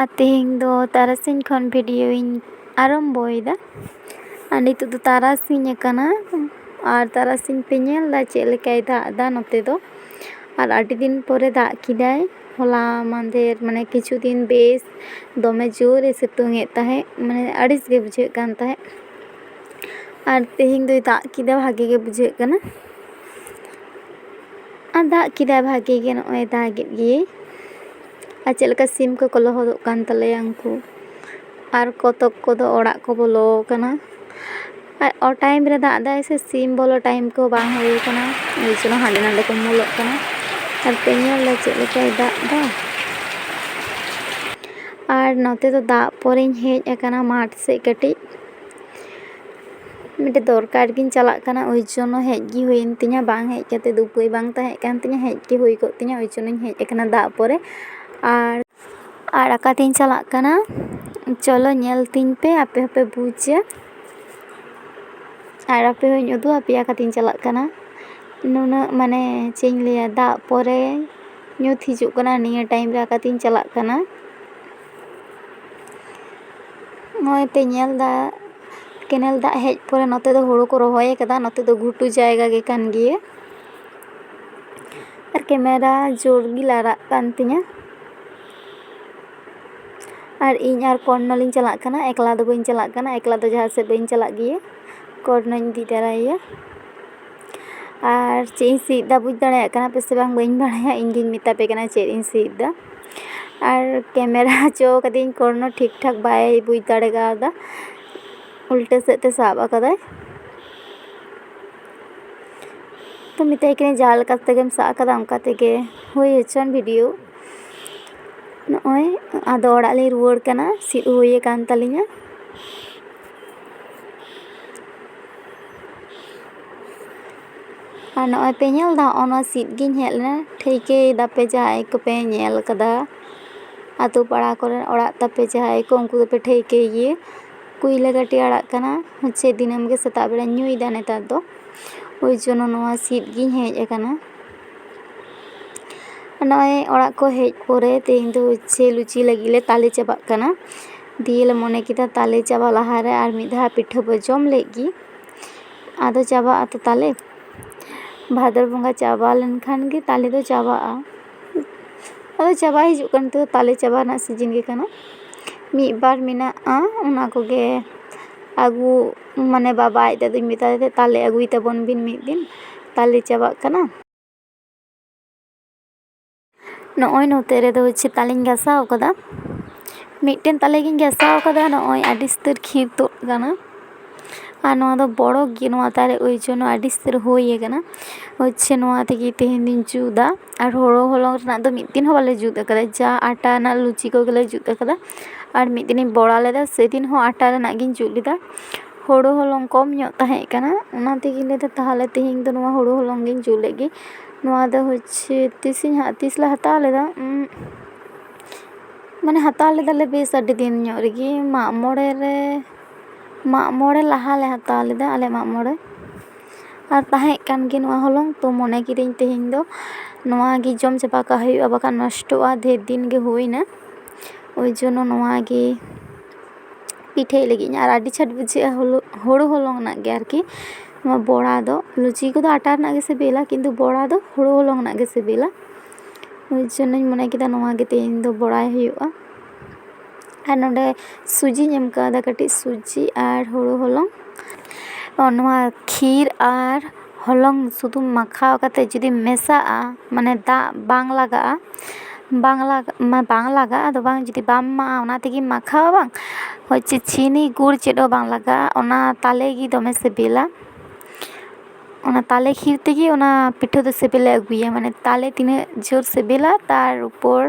ᱟᱨ ᱛᱮᱦᱮᱧ ᱫᱚ ᱛᱟᱨᱟᱥᱤᱧ ᱠᱷᱚᱱ ᱵᱷᱤᱰᱤᱭᱳᱧ ᱟᱨᱟᱢᱵᱚᱭᱮᱫᱟ ᱟᱨ ᱱᱤᱛᱚᱜ ᱫᱚ ᱛᱟᱨᱟᱥᱤᱧ ᱟᱠᱟᱱᱟ ᱟᱨ ᱛᱟᱨᱟᱥᱤᱧ ᱯᱮ ᱧᱮᱞ ᱮᱫᱟ ᱪᱮᱫ ᱞᱮᱠᱟᱭ ᱫᱟᱜ ᱮᱫᱟ ᱱᱚᱛᱮ ᱫᱚ ᱟᱨ ᱟᱹᱰᱤ ᱫᱤᱱ ᱯᱚᱨᱮ ᱫᱟᱜ ᱠᱮᱫᱟᱭ ᱦᱚᱞᱟ ᱢᱟᱦᱫᱮᱨ ᱢᱟᱱᱮ ᱠᱤᱪᱷᱩ ᱫᱤᱱ ᱵᱮᱥ ᱫᱚᱢᱮ ᱡᱳᱨᱮ ᱥᱤᱛᱩᱝ ᱮᱫ ᱛᱟᱦᱮᱸᱫ ᱢᱟᱱᱮ ᱟᱹᱲᱤᱥ ᱜᱮ ᱵᱩᱡᱷᱟᱹᱜ ᱠᱟᱱ ᱛᱟᱦᱮᱸᱫ ᱟᱨ ᱛᱮᱦᱮᱧ ᱫᱚᱭ ᱫᱟᱜ ᱠᱮᱫᱟ ᱵᱷᱟᱹᱜᱤ ᱜᱮ ᱵᱩᱡᱷᱟᱹᱜ ᱠᱟᱱᱟ ᱟᱨ ᱫᱟᱜ ᱠᱮᱫᱟᱭ ᱵᱷᱟᱹᱜᱤ ᱜᱮ ᱱᱚᱜᱼᱚᱭ ᱫᱟᱜ ᱮᱫ ᱜᱮᱭᱟᱭ ᱟᱨ ᱪᱮᱫ ᱞᱮᱠᱟ ᱥᱤᱢ ᱠᱚᱠᱚ ᱞᱚᱦᱚᱫᱚᱜ ᱠᱟᱱ ᱛᱟᱞᱮᱭᱟ ᱩᱱᱠᱩ ᱟᱨ ᱠᱚᱛᱚᱠ ᱠᱚᱫᱚ ᱚᱲᱟᱜ ᱠᱚ ᱵᱚᱞᱚ ᱟᱠᱟᱱᱟ ᱟᱨ ᱚᱴᱟᱭᱤᱢ ᱨᱮ ᱫᱟᱜ ᱮᱫᱟᱭ ᱥᱮ ᱥᱤᱢ ᱵᱚᱞᱚ ᱴᱟᱭᱤᱢ ᱠᱚ ᱵᱟᱝ ᱦᱩᱭ ᱟᱠᱟᱱᱟ ᱮᱭ ᱡᱚᱱᱱᱚ ᱦᱟᱸᱰᱮ ᱱᱟᱸᱰᱮ ᱠᱚ ᱩᱢᱩᱞᱚᱜ ᱠᱟᱱᱟ ᱟᱨ ᱯᱮ ᱧᱮᱞᱫᱟ ᱪᱮᱫ ᱞᱮᱠᱟᱭ ᱫᱟᱜ ᱮᱫᱟ ᱟᱨ ᱱᱚᱛᱮ ᱫᱚ ᱫᱟᱜ ᱯᱚᱨᱮᱧ ᱦᱮᱡ ᱟᱠᱟᱱᱟ ᱢᱟᱴᱷ ᱥᱮᱫ ᱠᱟᱹᱴᱤᱡ ᱢᱤᱫᱴᱮᱡ ᱫᱚᱨᱠᱟᱨ ᱜᱤᱧ ᱪᱟᱞᱟᱜ ᱠᱟᱱᱟ ᱳᱭ ᱡᱚᱱᱱᱚ ᱦᱮᱡ ᱜᱮ ᱦᱩᱭᱮᱱ ᱛᱤᱧᱟᱹ ᱵᱟᱝ ᱦᱮᱡ ᱠᱟᱛᱮ ᱫᱚ ᱩᱯᱟᱹᱭ ᱵᱟᱝ ᱛᱟᱦᱮᱸᱠᱟᱱ ᱛᱤᱧᱟᱹ ᱦᱮᱡ ᱜᱮ ᱦᱩᱭ ᱠᱚᱜ ᱛᱤᱧᱟᱹ ᱳᱭ ᱡᱚᱱᱱᱚᱧ ᱦᱮᱡ ᱟᱠᱟᱱᱟ ᱫᱟᱜ ᱯᱚᱨᱮ ᱟᱨ ᱟᱨ ᱟᱠᱟᱛᱤᱧ ᱪᱟᱞᱟᱜ ᱠᱟᱱᱟ ᱪᱚᱞᱚ ᱧᱮᱞ ᱛᱤᱧ ᱯᱮ ᱟᱯᱮ ᱦᱚᱸᱯᱮ ᱵᱩᱡᱟ ᱟᱨ ᱟᱯᱮ ᱦᱚᱸᱧ ᱩᱫᱩᱜ ᱟᱯᱮᱭᱟ ᱟᱠᱟᱛᱤᱧ ᱪᱟᱞᱟᱜ ᱠᱟᱱᱟ ᱱᱩᱱᱟᱹᱜ ᱢᱟᱱᱮ ᱪᱮᱫ ᱤᱧ ᱞᱟᱹᱭᱟ ᱫᱟᱜ ᱯᱚᱨᱮ ᱧᱩᱛ ᱦᱤᱡᱩᱜ ᱠᱟᱱᱟ ᱱᱤᱭᱟᱹ ᱴᱟᱭᱤᱢ ᱨᱮ ᱟᱠᱟᱛᱤᱧ ᱪᱟᱞᱟᱜ ᱠᱟᱱᱟ ᱱᱚᱜᱼᱚᱭ ᱯᱮ ᱧᱮᱞᱫᱟ ᱠᱮᱱᱮᱞ ᱫᱟᱜ ᱦᱮᱡ ᱯᱚᱨᱮ ᱱᱚᱛᱮ ᱫᱚ ᱦᱳᱲᱳ ᱠᱚ ᱨᱚᱦᱚᱭ ᱠᱟᱫᱟ ᱱᱚᱛᱮ ᱫᱚ ᱜᱷᱩᱴᱩ ᱡᱟᱭᱜᱟ ᱜᱮ ᱠᱟᱱ ᱜᱮᱭᱟ ᱟᱨ ᱠᱮᱢᱮᱨᱟ ᱡᱳᱨ ᱜᱮ ᱞᱟᱲᱟᱜ ᱠᱟᱱ ᱛᱤᱧᱟᱹ ᱟᱨ ᱤᱧ ᱟᱨ ᱠᱚᱨᱱᱚ ᱞᱤᱧ ᱪᱟᱞᱟᱜ ᱠᱟᱱᱟ ᱮᱠᱞᱟ ᱫᱚ ᱵᱟᱹᱧ ᱪᱟᱞᱟᱜ ᱠᱟᱱᱟ ᱮᱠᱞᱟ ᱫᱚ ᱡᱟᱦᱟᱸ ᱥᱮᱫ ᱵᱟᱹᱧ ᱪᱟᱞᱟᱜ ᱜᱮᱭᱟ ᱠᱚᱨᱱᱚᱧ ᱤᱫᱤ ᱛᱟᱨᱟᱭᱮᱭᱟ ᱟᱨ ᱪᱮᱫ ᱤᱧ ᱥᱤᱫ ᱮᱫᱟ ᱵᱩᱡᱽ ᱫᱟᱲᱮᱭᱟᱜ ᱠᱟᱱᱟ ᱯᱮᱥᱮ ᱵᱟᱝ ᱵᱟᱹᱧ ᱵᱟᱲᱟᱭᱟ ᱤᱧ ᱜᱤᱧ ᱢᱮᱛᱟ ᱯᱮ ᱠᱟᱱᱟ ᱪᱮᱫ ᱤᱧ ᱥᱤᱫ ᱮᱫᱟ ᱟᱨ ᱠᱮᱢᱮᱨᱟ ᱦᱚᱪᱚ ᱠᱟᱹᱫᱟᱹᱧ ᱠᱳᱱᱳ ᱴᱷᱤᱠ ᱴᱷᱟᱠ ᱵᱟᱭ ᱵᱩᱡᱽ ᱫᱟᱲᱮ ᱠᱟᱣᱫᱟ ᱩᱞᱴᱟᱹ ᱥᱮᱫ ᱛᱮ ᱥᱟᱵ ᱠᱟᱫᱟᱭ ᱛᱚ ᱢᱮᱛᱟᱭ ᱠᱟᱹᱱᱟᱹᱧ ᱡᱟᱦᱟᱸ ᱞᱮᱠᱟ ᱛᱮᱜᱮᱢ ᱥᱟᱵ ᱠᱟᱫᱟ ᱚᱱᱠᱟ ᱛᱮᱜᱮ ᱦᱩᱭ ᱦᱚᱪᱚᱱ ᱵᱷᱤᱰᱤᱭᱳ ᱱᱚᱜᱼᱚᱭ ᱟᱫᱚ ᱚᱲᱟᱜ ᱞᱤᱧ ᱨᱩᱣᱟᱹᱲ ᱠᱟᱱᱟ ᱥᱤᱫ ᱦᱩᱭ ᱠᱟᱱ ᱛᱟᱹᱞᱤᱧᱟ ᱟᱨ ᱱᱚᱜᱼᱚᱭ ᱯᱮ ᱧᱮᱞ ᱮᱫᱟ ᱱᱚᱜᱼᱚᱭ ᱱᱚᱣᱟ ᱥᱤᱫ ᱜᱤᱧ ᱦᱮᱡ ᱞᱮᱱᱟ ᱴᱷᱟᱹᱣᱠᱟᱹᱭ ᱫᱟᱯᱮ ᱡᱟᱦᱟᱸᱭ ᱠᱚᱯᱮ ᱧᱮᱞ ᱠᱟᱫᱟ ᱟᱛᱳ ᱯᱟᱲᱟ ᱠᱚᱨᱮ ᱚᱲᱟᱜ ᱛᱟᱯᱮ ᱡᱟᱦᱟᱸᱭ ᱠᱚ ᱩᱱᱠᱩ ᱫᱚᱯᱮ ᱴᱷᱟᱹᱣᱠᱟᱹᱭ ᱜᱮᱭᱟ ᱠᱩᱭᱞᱟᱹ ᱠᱟᱹᱴᱤ ᱟᱲᱟᱜ ᱠᱟᱱᱟ ᱦᱚᱪᱪᱷᱮ ᱫᱤᱱᱟᱹᱢ ᱜᱮ ᱥᱮᱛᱟᱜ ᱵᱮᱲᱟᱧ ᱧᱩᱭᱫᱟ ᱱᱮᱛᱟᱨ ᱫᱚ ᱳᱭ ᱡᱚᱱᱱᱚ ᱱᱚᱣᱟ ᱥᱤᱫ ᱜᱤᱧ ᱦᱮᱡ ᱟᱠᱟᱱᱟ ᱱᱚᱜᱼᱚᱭ ᱚᱲᱟᱜ ᱠᱚ ᱦᱮᱡ ᱯᱚᱨᱮ ᱛᱮᱦᱮᱧ ᱫᱚ ᱦᱚᱪᱪᱷᱮ ᱞᱩᱪᱤ ᱞᱟᱹᱜᱤᱫ ᱞᱮ ᱛᱟᱞᱮ ᱪᱟᱵᱟᱜ ᱠᱟᱱᱟ ᱫᱤᱭᱮ ᱞᱮ ᱢᱚᱱᱮ ᱠᱮᱫᱟ ᱛᱟᱞᱮ ᱪᱟᱵᱟᱜ ᱞᱟᱦᱟᱨᱮ ᱟᱨ ᱢᱤᱫ ᱫᱷᱟᱣ ᱯᱤᱴᱷᱟᱹ ᱵᱚᱱ ᱡᱚᱢ ᱞᱮᱜᱮ ᱟᱫᱚ ᱪᱟᱵᱟᱜ ᱟᱛᱚ ᱛᱟᱞᱮ ᱵᱷᱟᱫᱚᱨ ᱵᱚᱸᱜᱟ ᱪᱟᱵᱟ ᱞᱮᱱᱠᱷᱟᱱ ᱜᱮ ᱛᱟᱞᱮ ᱫᱚ ᱪᱟᱵᱟᱜᱼᱟ ᱟᱫᱚ ᱪᱟᱵᱟ ᱦᱤᱡᱩᱜ ᱠᱟᱱᱟ ᱱᱤᱛᱚᱜ ᱫᱚ ᱛᱟᱞᱮ ᱪᱟᱵᱟ ᱨᱮᱱᱟᱜ ᱥᱤᱡᱤᱱ ᱜᱮ ᱠᱟᱱᱟ ᱢᱤᱫ ᱵᱟᱨ ᱢᱮᱱᱟᱜᱼᱟ ᱚᱱᱟ ᱠᱚᱜᱮ ᱟᱹᱜᱩ ᱢᱟᱱᱮ ᱵᱟᱵᱟ ᱟᱡ ᱫᱟᱹᱫᱩᱧ ᱢᱮᱛᱟᱭ ᱠᱟᱱᱟ ᱛᱟᱞᱮ ᱟᱹᱜᱩᱭ ᱛᱟᱵᱚᱱ ᱵᱤᱱ ᱢᱤᱫ ᱫᱤᱱ ᱛᱟᱞᱮ ᱪᱟᱵᱟᱜ ᱠᱟᱱᱟ ᱱᱚᱜᱼᱚᱭ ᱱᱚᱛᱮ ᱨᱮᱫᱚ ᱦᱚᱪᱪᱷᱮ ᱛᱟᱞᱮᱧ ᱜᱟᱥᱟᱣ ᱠᱟᱫᱟ ᱢᱤᱫᱴᱮᱱ ᱛᱟᱞᱮ ᱜᱤᱧ ᱜᱟᱥᱟᱣ ᱠᱟᱫᱟ ᱱᱚᱜᱼᱚᱭ ᱟᱹᱰᱤ ᱩᱥᱛᱟᱹᱨ ᱠᱷᱤᱨ ᱛᱩᱫ ᱠᱟᱱᱟ ᱟᱨ ᱱᱚᱣᱟ ᱫᱚ ᱵᱚᱲᱚ ᱜᱮ ᱱᱚᱣᱟ ᱫᱟᱨᱮ ᱳᱭ ᱡᱚᱱᱱᱚ ᱟᱹᱰᱤ ᱩᱥᱛᱟᱹᱨ ᱦᱩᱭ ᱠᱟᱱᱟ ᱦᱚᱪᱪᱷᱮ ᱱᱚᱣᱟ ᱛᱮᱜᱮ ᱛᱮᱦᱮᱧ ᱫᱚᱧ ᱡᱩᱛᱟ ᱟᱨ ᱦᱳᱲᱳ ᱦᱚᱞᱚᱝ ᱨᱮᱱᱟᱜ ᱫᱚ ᱢᱤᱫ ᱫᱤᱱ ᱦᱚᱸ ᱵᱟᱞᱮ ᱡᱩᱛ ᱠᱟᱫᱟ ᱡᱟ ᱟᱴᱟ ᱨᱮᱱᱟᱜ ᱞᱩᱪᱤ ᱠᱚᱜᱮ ᱞᱮ ᱡᱩᱛ ᱠᱟᱫᱟ ᱟᱨ ᱢᱤᱫ ᱫᱤᱱᱤᱧ ᱵᱚᱲᱟ ᱞᱮᱫᱟ ᱥᱮᱫᱤᱱ ᱦᱚᱸ ᱟᱴᱟ ᱨᱮᱱᱟᱜ ᱜᱤᱧ ᱡᱩᱛ ᱞᱮᱫᱟ ᱦᱳᱲᱳ ᱦᱚᱞᱚᱝ ᱠᱚᱢ ᱧᱚᱜ ᱛᱟᱦᱮᱸ ᱠᱟᱱᱟ ᱚᱱᱟ ᱛᱮᱜᱮᱧ ᱞᱟᱹᱭᱫᱟ ᱛᱟᱦᱚᱞᱮ ᱛᱮᱦᱮᱧ ᱫᱚ ᱱᱚᱣᱟ ᱦᱳᱲᱳ ᱦᱚᱞᱚᱝ ᱜᱤᱧ ᱡᱩᱛ ᱞᱮᱜᱮ ᱱᱚᱣᱟ ᱫᱚ ᱦᱚᱪᱪᱷᱮ ᱛᱤᱥᱤᱧ ᱛᱤᱥ ᱞᱮ ᱦᱟᱛᱟᱣ ᱞᱮᱫᱟ ᱢᱟᱱᱮ ᱦᱟᱛᱟᱣ ᱞᱮᱫᱟᱞᱮ ᱵᱮᱥ ᱟᱹᱰᱤ ᱫᱤᱱ ᱧᱚᱜ ᱨᱮᱜᱮ ᱢᱟᱜ ᱢᱚᱬᱮ ᱨᱮ ᱢᱟᱜ ᱢᱚᱬᱮ ᱞᱟᱦᱟ ᱞᱮ ᱦᱟᱛᱟᱣ ᱞᱮᱫᱟ ᱟᱞᱮ ᱢᱟᱜ ᱢᱚᱬᱮ ᱟᱨ ᱛᱟᱦᱮᱸᱜ ᱠᱟᱱ ᱜᱮᱭᱟ ᱱᱚᱣᱟ ᱦᱚᱞᱚᱝ ᱛᱚ ᱢᱚᱱᱮ ᱠᱤᱫᱟᱹᱧ ᱛᱮᱦᱮᱧ ᱫᱚ ᱱᱚᱣᱟ ᱜᱮ ᱡᱚᱢ ᱪᱟᱵᱟ ᱠᱟᱜ ᱦᱩᱭᱩᱜᱼᱟ ᱵᱟᱠᱷᱟᱱ ᱱᱚᱥᱴᱚᱜᱼᱟ ᱰᱷᱮᱨ ᱫᱤᱱ ᱜᱮ ᱦᱩᱭᱱᱟ ᱳᱭ ᱡᱚᱱᱱᱚ ᱱᱚᱣᱟ ᱜᱮ ᱯᱤᱴᱷᱟᱹᱭ ᱞᱟᱹᱜᱤᱫ ᱟᱨ ᱟᱹᱰᱤ ᱪᱷᱟᱴ ᱵᱩᱡᱷᱟᱹᱜᱼᱟ ᱦᱳᱲᱳ ᱦᱚᱞᱚᱝ ᱨᱮᱱᱟᱜ ᱜᱮ ᱟᱨᱠᱤ ᱱᱚᱣᱟ ᱵᱚᱲᱟ ᱫᱚ ᱞᱩᱪᱤ ᱠᱚᱫᱚ ᱟᱴᱟ ᱨᱮᱱᱟᱜ ᱜᱮ ᱥᱤᱵᱤᱞᱟ ᱠᱤᱱᱛᱩ ᱵᱚᱲᱟ ᱫᱚ ᱦᱳᱲᱳ ᱦᱚᱞᱚᱝ ᱨᱮᱱᱟᱜ ᱜᱮ ᱥᱤᱵᱤᱞᱟ ᱳᱭ ᱡᱚᱱᱱᱚᱧ ᱢᱚᱱᱮ ᱠᱮᱫᱟ ᱱᱚᱣᱟ ᱜᱮ ᱛᱮᱦᱮᱧ ᱫᱚ ᱵᱚᱲᱟᱭ ᱦᱩᱭᱩᱜᱼᱟ ᱟᱨ ᱱᱚᱰᱮ ᱥᱩᱡᱤᱧ ᱮᱢ ᱠᱟᱣᱫᱟ ᱠᱟᱹᱴᱤᱡ ᱥᱩᱡᱤ ᱟᱨ ᱦᱳᱲᱳ ᱦᱚᱞᱚᱝ ᱱᱚᱣᱟ ᱠᱷᱤᱨ ᱟᱨ ᱦᱚᱞᱚᱝ ᱥᱩᱫᱩ ᱢᱟᱠᱷᱟᱣ ᱠᱟᱛᱮ ᱡᱩᱫᱤᱢ ᱢᱮᱥᱟᱜᱼᱟ ᱢᱟᱱᱮ ᱫᱟᱜ ᱵᱟᱝ ᱞᱟᱜᱟᱜᱼᱟ ᱵᱟᱝ ᱞᱟᱜᱟᱜ ᱢᱟᱱᱮ ᱵᱟᱝ ᱞᱟᱜᱟᱜᱼᱟ ᱟᱫᱚ ᱵᱟᱝ ᱡᱩᱫᱤ ᱵᱟᱢ ᱮᱢᱟᱜᱼᱟ ᱚᱱᱟ ᱛᱮᱜᱮᱢ ᱢᱟᱠᱷᱟᱣᱟ ᱵᱟᱝ ᱦᱳᱭ ᱪᱮᱫ ᱪᱤᱱᱤ ᱜᱩᱲ ᱪᱮᱫ ᱦᱚᱸ ᱵᱟᱝ ᱞᱟᱜᱟᱜᱼᱟ ᱚᱱᱟ ᱛᱟᱞᱮ ᱜᱮ ᱫᱚᱢᱮ ᱥᱤᱵᱤᱞᱟ ᱚᱱᱟ ᱛᱟᱞᱮ ᱠᱷᱤᱨ ᱛᱮᱜᱮ ᱚᱱᱟ ᱯᱤᱴᱷᱟᱹ ᱫᱚ ᱥᱤᱵᱤᱞᱮ ᱟᱹᱜᱩᱭᱟ ᱢᱟᱱᱮ ᱛᱟᱞᱮ ᱛᱤᱱᱟᱹᱜ ᱡᱳᱨ ᱥᱤᱵᱤᱞᱟ ᱛᱟᱨ ᱩᱯᱚᱨ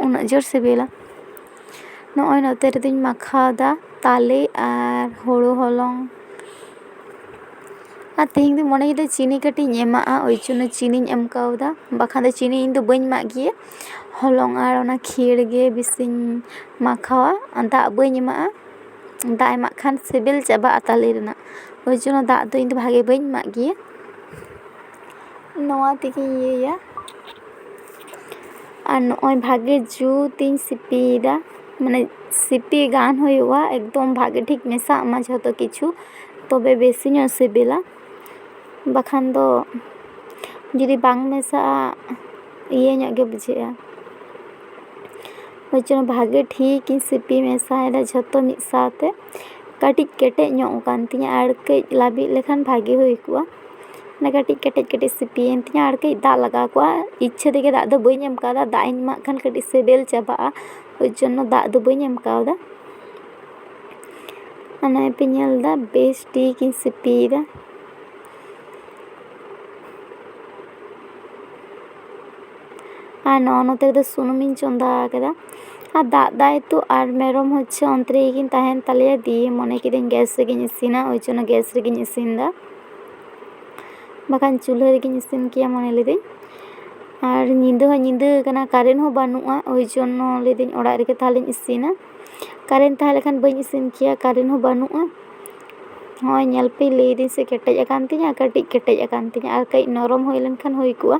ᱩᱱᱟᱹᱜ ᱡᱳᱨ ᱥᱤᱵᱤᱞᱟ ᱱᱚᱜᱼᱚᱭ ᱱᱚᱛᱮ ᱨᱮᱫᱚᱧ ᱢᱟᱠᱷᱟᱣᱫᱟ ᱛᱟᱞᱮ ᱟᱨ ᱦᱳᱲᱳ ᱦᱚᱞᱚᱝ ᱟᱨ ᱛᱮᱦᱮᱧ ᱫᱚᱧ ᱢᱚᱱᱮ ᱠᱮᱫᱟ ᱪᱤᱱᱤ ᱠᱟᱹᱴᱤᱡ ᱤᱧ ᱮᱢᱟᱜᱼᱟ ᱳᱭ ᱡᱚᱱᱱᱚ ᱪᱤᱱᱤᱧ ᱮᱢ ᱠᱟᱣᱫᱟ ᱵᱟᱠᱷᱟᱱ ᱫᱚ ᱪᱤᱱᱤ ᱤᱧ ᱫᱚ ᱵᱟᱹᱧ ᱮᱢᱟᱜ ᱜᱮᱭᱟ ᱦᱚᱞᱚᱝ ᱟᱨ ᱚᱱᱟ ᱠᱷᱤᱨ ᱜᱮ ᱵᱮᱥᱤᱧ ᱢᱟᱠᱷᱟᱣᱟ ᱟᱨ ᱫᱟᱜ ᱵᱟᱹᱧ ᱮᱢᱟᱜᱼᱟ ᱫᱟᱜ ᱮᱢᱟᱜ ᱠᱷᱟᱱ ᱥᱤᱵᱤᱞ ᱪᱟᱵᱟᱜᱼᱟ ᱛᱟᱞᱮ ᱨᱮᱱᱟᱜ ᱳᱭ ᱡᱚᱱᱱᱚ ᱫᱟᱜ ᱫᱚ ᱤᱧ ᱫᱚ ᱵᱷᱟᱜᱮ ᱵᱟᱹᱧ ᱮᱢᱟᱜ ᱜᱮᱭᱟ ᱱᱚᱣᱟ ᱛᱮᱜᱮᱧ ᱤᱭᱟᱹᱭᱟ ᱟᱨ ᱱᱚᱜᱼᱚᱭ ᱵᱷᱟᱜᱮ ᱡᱩᱛ ᱤᱧ ᱥᱤᱯᱤᱭᱮᱫᱟ ᱢᱟᱱᱮ ᱥᱤᱯᱤ ᱜᱟᱱ ᱦᱩᱭᱩᱜᱼᱟ ᱮᱠᱫᱚᱢ ᱵᱷᱟᱜᱮ ᱴᱷᱤᱠ ᱢᱮᱥᱟᱜ ᱢᱟ ᱡᱷᱚᱛᱚ ᱠᱤᱪᱷᱩ ᱛᱚᱵᱮ ᱵᱮᱥᱤ ᱧᱚᱜ ᱥᱤᱵᱤᱞᱟ ᱵᱟᱠᱷᱟᱱ ᱫᱚ ᱡᱩᱫᱤ ᱵᱟᱝ ᱢᱮᱥᱟᱜᱼᱟ ᱤᱭᱟᱹ ᱧᱚᱜ ᱜᱮ ᱵᱩᱡᱷᱟᱹᱜᱼᱟ ᱚᱱᱟ ᱪᱚᱝ ᱵᱷᱟᱜᱮ ᱴᱷᱤᱠ ᱤᱧ ᱥᱤᱯᱤ ᱢᱮᱥᱟᱭᱮᱫᱟ ᱡᱷᱚᱛᱚ ᱢᱤᱫ ᱥᱟᱶᱛᱮ ᱠᱟᱹᱴᱤᱡ ᱠᱮᱴᱮᱡ ᱧᱚᱜ ᱠᱟᱱ ᱛᱤᱧᱟᱹ ᱟᱨ ᱠᱟᱹᱡ ᱞᱟᱹᱵᱤᱫ ᱞᱮᱠᱷᱟᱱ ᱵᱷᱟᱜᱮ ᱦᱩᱭ ᱠᱚᱜᱼᱟ ᱚᱱᱟ ᱠᱟᱹᱴᱤᱡ ᱠᱮᱴᱮᱡ ᱠᱮᱴᱮᱡ ᱥᱤᱯᱤᱭᱮᱱ ᱛᱤᱧᱟᱹ ᱟᱨ ᱠᱟᱹᱡ ᱫᱟᱜ ᱞᱟᱜᱟᱣ ᱠᱚᱜᱼᱟ ᱤᱪᱪᱷᱟᱹ ᱛᱮᱜᱮ ᱫᱟᱜ ᱫᱚ ᱵᱟᱹᱧ ᱮᱢ ᱠᱟᱣᱫᱟ ᱫᱟᱜ ᱤᱧ ᱮᱢᱟᱜ ᱠᱷᱟᱱ ᱠᱟᱹᱴᱤᱡ ᱥᱮᱵᱮᱞ ᱪᱟᱵᱟᱜᱼᱟ ᱳᱭ ᱡᱚᱱᱱᱚ ᱫᱟᱜ ᱫᱚ ᱵᱟᱹᱧ ᱮᱢ ᱠᱟᱣᱫᱟ ᱟᱨ ᱱᱚᱜᱼᱚᱭ ᱯᱮ ᱧᱮᱞᱫᱟ ᱵᱮᱥ ᱴᱷᱤᱠ ᱤᱧ ᱥᱤᱯᱤᱭᱮᱫᱟ ᱟᱨ ᱱᱚᱜᱼᱚ ᱱᱚᱛᱮ ᱨᱮᱫᱚ ᱥᱩᱱᱩᱢᱤᱧ ᱪᱚᱸᱫᱟ ᱟᱠᱟᱫᱟ ᱟᱨ ᱫᱟᱜ ᱫᱟᱭ ᱛᱚ ᱟᱨ ᱢᱮᱨᱚᱢ ᱦᱚᱪᱪᱷᱮ ᱚᱱᱛᱮ ᱨᱮᱜᱮ ᱠᱤᱱ ᱛᱟᱦᱮᱱ ᱛᱟᱞᱮᱭᱟ ᱫᱤᱭᱮ ᱢᱚᱱᱮ ᱠᱤᱫᱟᱹᱧ ᱜᱮᱥ ᱨᱮᱜᱮᱧ ᱤᱥᱤᱱᱟ ᱳᱭ ᱡᱚᱱᱱᱚ ᱜᱮᱥ ᱨᱮᱜᱮᱧ ᱤᱥᱤᱱᱫᱟ ᱵᱟᱠᱷᱟᱱ ᱪᱩᱞᱦᱟᱹ ᱨᱮᱜᱤᱧ ᱤᱥᱤᱱ ᱠᱮᱭᱟ ᱢᱚᱱᱮ ᱞᱤᱫᱟᱹᱧ ᱟᱨ ᱧᱤᱫᱟᱹ ᱦᱚᱸ ᱧᱤᱫᱟᱹ ᱠᱟᱱᱟ ᱠᱟᱨᱮᱱ ᱦᱚᱸ ᱵᱟᱹᱱᱩᱜᱼᱟ ᱳᱭ ᱡᱚᱱᱱᱚ ᱞᱟᱹᱭᱫᱟᱹᱧ ᱚᱲᱟᱜ ᱨᱮᱜᱮ ᱛᱟᱦᱚᱞᱮᱧ ᱤᱥᱤᱱᱟ ᱠᱟᱨᱮᱱ ᱛᱟᱦᱮᱸ ᱞᱮᱱᱠᱷᱟᱱ ᱵᱟᱹᱧ ᱤᱥᱤᱱ ᱠᱮᱭᱟ ᱠᱟᱨᱮᱱ ᱦᱚᱸ ᱵᱟᱹᱱᱩᱜᱼᱟ ᱦᱚᱸᱜᱼᱚᱭ ᱧᱮᱞ ᱯᱮ ᱞᱟᱹᱭᱫᱟᱹᱧ ᱥᱮ ᱠᱮᱴᱮᱡ ᱟᱠᱟᱱ ᱛᱤᱧᱟᱹ ᱠᱟᱹᱴᱤᱡ ᱠᱮᱴᱮᱡ ᱟᱠᱟᱱ ᱛᱤᱧᱟᱹ ᱟᱨ ᱠᱟᱹᱡ ᱱᱚᱨᱚᱢ ᱦᱩᱭ ᱞᱮᱱᱠᱷᱟᱱ ᱦᱩᱭ ᱠᱚᱜᱼᱟ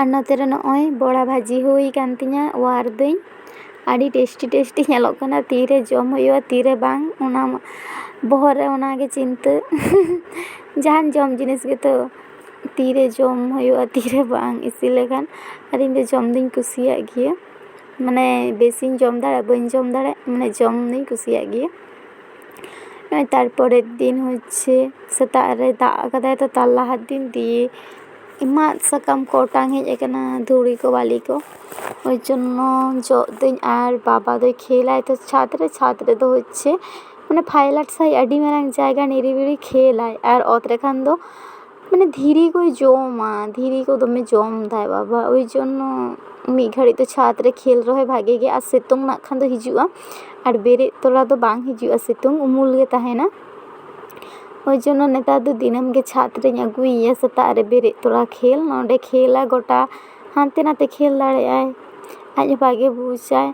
ᱟᱨ ᱱᱚᱛᱮ ᱨᱮ ᱱᱚᱜᱼᱚᱭ ᱵᱚᱲᱟ ᱵᱷᱟᱹᱡᱤ ᱦᱩᱭ ᱠᱟᱱ ᱛᱤᱧᱟᱹ ᱚᱣᱟᱨ ᱫᱟᱹᱧ ᱟᱹᱰᱤ ᱴᱮᱥᱴᱤ ᱴᱮᱥᱴᱤ ᱧᱮᱞᱚᱜ ᱠᱟᱱᱟ ᱛᱤᱨᱮ ᱡᱚᱢ ᱦᱩᱭᱩᱜᱼᱟ ᱛᱤᱨᱮ ᱵᱟᱝ ᱚᱱᱟ ᱵᱚᱦᱚᱜ ᱨᱮ ᱚᱱᱟᱜᱮ ᱪᱤᱱᱛᱟᱹ ᱡᱟᱦᱟᱱ ᱡᱚᱢ ᱡᱤᱱᱤᱥ ᱜᱮᱛᱚ ᱛᱤᱨᱮ ᱡᱚᱢ ᱦᱩᱭᱩᱜᱼᱟ ᱛᱤᱨᱮ ᱵᱟᱝ ᱤᱥᱤᱱ ᱞᱮᱠᱷᱟᱱ ᱟᱨ ᱤᱧ ᱫᱚ ᱡᱚᱢ ᱫᱩᱧ ᱠᱩᱥᱤᱭᱟᱜ ᱜᱮᱭᱟ ᱢᱟᱱᱮ ᱵᱮᱥᱤᱧ ᱡᱚᱢ ᱫᱟᱲᱮᱜ ᱵᱟᱹᱧ ᱡᱚᱢ ᱫᱟᱲᱮᱜ ᱢᱟᱱᱮ ᱡᱚᱢ ᱫᱩᱧ ᱠᱩᱥᱤᱭᱟᱜ ᱜᱮᱭᱟ ᱛᱟᱨᱯᱚᱨᱮᱨ ᱫᱤᱱ ᱦᱚᱪᱪᱷᱮ ᱥᱮᱛᱟᱜ ᱨᱮ ᱫᱟᱜ ᱠᱟᱫᱟᱭ ᱛᱚ ᱛᱟᱨ ᱞᱟᱦᱟ ᱫᱤᱱ ᱫᱤᱭᱮ ᱢᱟᱫ ᱥᱟᱠᱟᱢ ᱠᱚ ᱚᱴᱟᱝ ᱦᱮᱡ ᱟᱠᱟᱱᱟ ᱫᱷᱩᱲᱤ ᱠᱚ ᱵᱟᱹᱞᱤ ᱠᱚ ᱳᱭ ᱡᱚᱱᱱᱚ ᱡᱚᱜ ᱫᱟᱹᱧ ᱟᱨ ᱵᱟᱵᱟ ᱫᱚᱭ ᱠᱷᱮᱞ ᱟᱭ ᱛᱚ ᱪᱷᱟᱫᱽ ᱨᱮ ᱪᱷᱟᱫᱽ ᱨᱮᱫᱚ ᱦᱚᱪᱪᱷᱮ ᱢᱟᱱᱮ ᱯᱷᱟᱭᱞᱟᱴ ᱥᱟᱺᱦᱤᱡ ᱟᱹᱰᱤ ᱢᱟᱨᱟᱝ ᱡᱟᱭᱜᱟ ᱱᱤᱨᱤᱵᱤᱞᱤ ᱠᱷᱮᱞ ᱟᱭ ᱟᱨ ᱚᱛ ᱨᱮᱠᱷᱟᱱ ᱫᱚ ᱢᱟᱱᱮ ᱫᱷᱤᱨᱤ ᱠᱚᱭ ᱡᱚᱢᱟ ᱫᱷᱤᱨᱤ ᱠᱚ ᱫᱚᱢᱮ ᱡᱚᱢᱫᱟᱭ ᱵᱟᱵᱟ ᱳᱭ ᱡᱚᱱᱱᱚ ᱢᱤᱫ ᱜᱷᱟᱹᱲᱤᱡ ᱫᱚ ᱪᱷᱟᱫᱽ ᱨᱮ ᱠᱷᱮᱞ ᱨᱮᱦᱚᱸᱭ ᱵᱷᱟᱜᱮ ᱜᱮᱭᱟ ᱟᱨ ᱥᱤᱛᱩᱝ ᱱᱟᱜ ᱠᱷᱟᱱ ᱫᱚ ᱦᱤᱡᱩᱜᱼᱟ ᱟᱨ ᱵᱮᱨᱮᱫ ᱛᱚᱨᱟ ᱫᱚ ᱵᱟᱝ ᱦᱤᱡᱩᱜᱼᱟ ᱥᱤᱛᱩᱝ ᱩᱢᱩᱞ ᱜᱮ ᱛᱟᱦᱮᱱᱟ ᱳᱭ ᱡᱚᱱᱱᱚ ᱱᱮᱛᱟᱨ ᱫᱚ ᱫᱤᱱᱟᱹᱢ ᱜᱮ ᱪᱷᱟᱫᱽ ᱨᱤᱧ ᱟᱹᱜᱩᱭᱮᱭᱟ ᱥᱮᱛᱟᱜ ᱨᱮ ᱵᱮᱨᱮᱫ ᱛᱚᱨᱟ ᱠᱷᱮᱞ ᱱᱚᱸᱰᱮ ᱠᱷᱮᱞᱟᱭ ᱜᱚᱴᱟ ᱦᱟᱱᱛᱮ ᱱᱟᱛᱮ ᱠᱷᱮᱞ ᱫᱟᱲᱮᱭᱟᱜᱼᱟᱭ ᱟᱡ ᱦᱚᱸ ᱵᱷᱟᱜᱮ ᱵᱩᱡᱟᱭ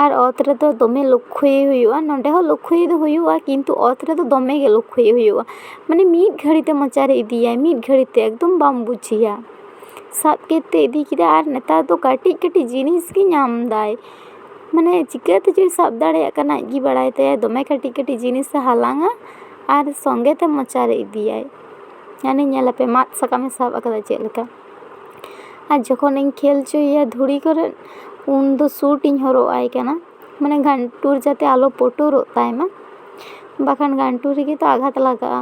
ᱟᱨ ᱚᱛ ᱨᱮᱫᱚ ᱫᱚᱢᱮ ᱞᱚᱠᱠᱷᱚᱭᱮ ᱦᱩᱭᱩᱜᱼᱟ ᱱᱚᱸᱰᱮ ᱦᱚᱸ ᱞᱚᱠᱠᱷᱚᱭᱮ ᱫᱚ ᱦᱩᱭᱩᱜᱼᱟ ᱠᱤᱱᱛᱩ ᱚᱛ ᱨᱮᱫᱚ ᱫᱚᱢᱮ ᱜᱮ ᱞᱚᱠᱠᱷᱚᱭᱮ ᱦᱩᱭᱩᱜᱼᱟ ᱢᱟᱱᱮ ᱢᱤᱫ ᱜᱷᱟᱹᱲᱤ ᱛᱮ ᱢᱚᱪᱟ ᱨᱮ ᱤᱫᱤᱭᱟᱭ ᱢᱤᱫ ᱜᱷᱟᱹᱲᱤ ᱛᱮ ᱮᱠᱫᱚᱢ ᱵᱟᱢ ᱵᱩᱡᱮᱭᱟ ᱥᱟᱵ ᱠᱮᱫᱛᱮ ᱤᱫᱤ ᱠᱮᱫᱟᱭ ᱟᱨ ᱱᱮᱛᱟᱨ ᱫᱚ ᱠᱟᱹᱴᱤᱡ ᱠᱟᱹᱴᱤᱡ ᱡᱤᱱᱤᱥ ᱜᱮ ᱧᱟᱢᱫᱟᱭ ᱢᱟᱱᱮ ᱪᱤᱠᱟᱹ ᱛᱮᱪᱚᱭ ᱥᱟᱵ ᱫᱟᱲᱮᱭᱟᱜ ᱠᱟᱱᱟ ᱟᱡᱜᱮ ᱵᱟᱲᱟᱭ ᱛᱟᱭᱟ ᱫᱚᱢᱮ ᱠᱟᱹᱴᱤᱡ ᱠᱟᱹᱴᱤᱡ ᱡᱤᱱᱤᱥᱮ ᱦᱟᱞᱟᱝᱟ ᱟᱨ ᱥᱚᱸᱜᱮ ᱛᱮ ᱢᱚᱪᱟᱨᱮ ᱤᱫᱤᱭᱟᱭ ᱢᱟᱱᱮ ᱧᱮᱞ ᱟᱯᱮ ᱢᱟᱜ ᱥᱟᱠᱟᱢᱮ ᱥᱟᱵ ᱠᱟᱫᱟ ᱪᱮᱫ ᱞᱮᱠᱟ ᱟᱨ ᱡᱚᱠᱷᱚᱱᱤᱧ ᱠᱷᱮᱞ ᱦᱚᱪᱚᱭᱮᱭᱟ ᱫᱷᱩᱲᱤ ᱠᱚᱨᱮᱜ ᱩᱱ ᱫᱚ ᱥᱩᱴ ᱤᱧ ᱦᱚᱨᱚᱜ ᱟᱭ ᱠᱟᱱᱟ ᱢᱟᱱᱮ ᱜᱷᱟᱱᱴᱩᱲ ᱡᱟᱛᱮ ᱟᱞᱚ ᱯᱩᱴᱩᱨᱚᱜ ᱛᱟᱭᱢᱟ ᱵᱟᱠᱷᱟᱱ ᱜᱷᱟᱱᱴᱩᱲ ᱨᱮᱜᱮ ᱛᱚ ᱟᱜᱷᱟᱛ ᱞᱟᱜᱟᱜᱼᱟ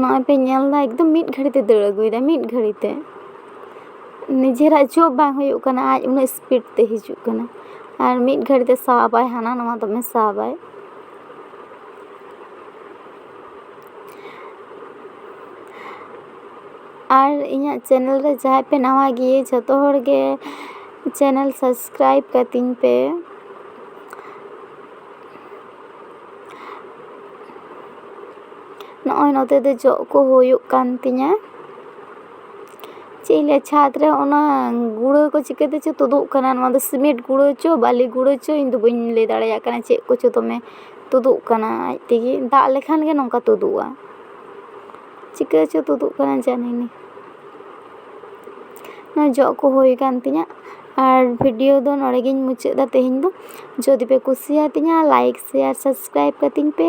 ᱱᱚᱜᱼᱚᱭ ᱯᱮ ᱧᱮᱞ ᱫᱟ ᱮᱠᱫᱚᱢ ᱢᱤᱫ ᱜᱷᱟᱹᱲᱤᱡ ᱛᱮ ᱫᱟᱹᱲ ᱟᱹᱜᱩᱭ ᱫᱟᱭ ᱢᱤᱫ ᱜᱷᱟᱹᱲᱤ ᱛᱮ ᱱᱤᱡᱮᱨᱟᱜ ᱪᱚᱯ ᱵᱟᱝ ᱦᱩᱭᱩᱜ ᱠᱟᱱᱟ ᱟᱡ ᱩᱱᱟᱹᱜ ᱤᱥᱯᱤᱰ ᱛᱮ ᱦᱤᱡᱩᱜ ᱠᱟᱱᱟ ᱟᱨ ᱢᱤᱫ ᱜᱷᱟᱹᱲᱤ ᱛᱮ ᱥᱟᱵ ᱟᱭ ᱦᱟᱱᱟ ᱱᱚᱣᱟ ᱫᱚᱢᱮ ᱥᱟᱵ ᱟᱭ ᱟᱨ ᱤᱧᱟᱹᱜ ᱪᱮᱱᱮᱞ ᱨᱮ ᱡᱟᱦᱟᱸᱭ ᱯᱮ ᱱᱟᱣᱟ ᱜᱮ ᱡᱷᱚᱛᱚ ᱦᱚᱲ ᱜᱮ ᱪᱮᱱᱮᱞ ᱥᱟᱵᱥᱠᱨᱟᱭᱤᱵᱽ ᱠᱟᱹᱛᱤᱧ ᱯᱮ ᱱᱚᱜᱼᱚᱭ ᱱᱚᱛᱮ ᱫᱚ ᱡᱚᱜ ᱠᱚ ᱦᱩᱭᱩᱜ ᱠᱟᱱ ᱛᱤᱧᱟᱹ ᱪᱮᱫ ᱤᱧ ᱞᱟᱹᱭᱟ ᱪᱷᱟᱫᱽ ᱨᱮ ᱚᱱᱟ ᱜᱩᱲᱟᱹ ᱠᱚ ᱪᱤᱠᱟᱹ ᱛᱮᱪᱚ ᱛᱩᱫᱩᱜ ᱠᱟᱱᱟ ᱱᱚᱣᱟ ᱫᱚ ᱥᱤᱢᱮᱱᱴ ᱜᱩᱲᱟᱹ ᱪᱚ ᱵᱟᱹᱞᱤ ᱜᱩᱲᱟᱹ ᱪᱚ ᱤᱧ ᱫᱚ ᱵᱟᱹᱧ ᱞᱟᱹᱭ ᱫᱟᱲᱮᱭᱟᱜ ᱠᱟᱱᱟ ᱪᱮᱫ ᱠᱚᱪᱚ ᱫᱚᱢᱮ ᱛᱩᱫᱩᱜ ᱠᱟᱱᱟ ᱟᱡ ᱛᱮᱜᱮ ᱫᱟᱜ ᱞᱮᱠᱷᱟᱱ ᱜᱮ ᱱᱚᱝᱠᱟ ᱛᱩᱫᱩᱜᱼᱟ ᱪᱤᱠᱟᱹ ᱪᱚ ᱛᱩᱫᱩᱜ ᱠᱟᱱᱟ ᱡᱟᱱᱤ ᱱᱮ ᱡᱚᱜ ᱠᱚ ᱦᱩᱭ ᱟᱠᱟᱱ ᱛᱤᱧᱟᱹ ᱟᱨ ᱵᱷᱤᱰᱤᱭᱳ ᱫᱚ ᱱᱚᱸᱰᱮ ᱜᱤᱧ ᱢᱩᱪᱟᱹᱫ ᱮᱫᱟ ᱛᱮᱦᱮᱧ ᱫᱚ ᱡᱩᱫᱤ ᱯᱮ ᱠᱩᱥᱤᱭᱟᱛᱤᱧᱟ ᱞᱟᱭᱤᱠ ᱥᱮᱭᱟᱨ ᱥᱟᱵᱥᱠᱨᱟᱭᱤᱵᱽ ᱠᱟᱹᱛᱤᱧ ᱯᱮ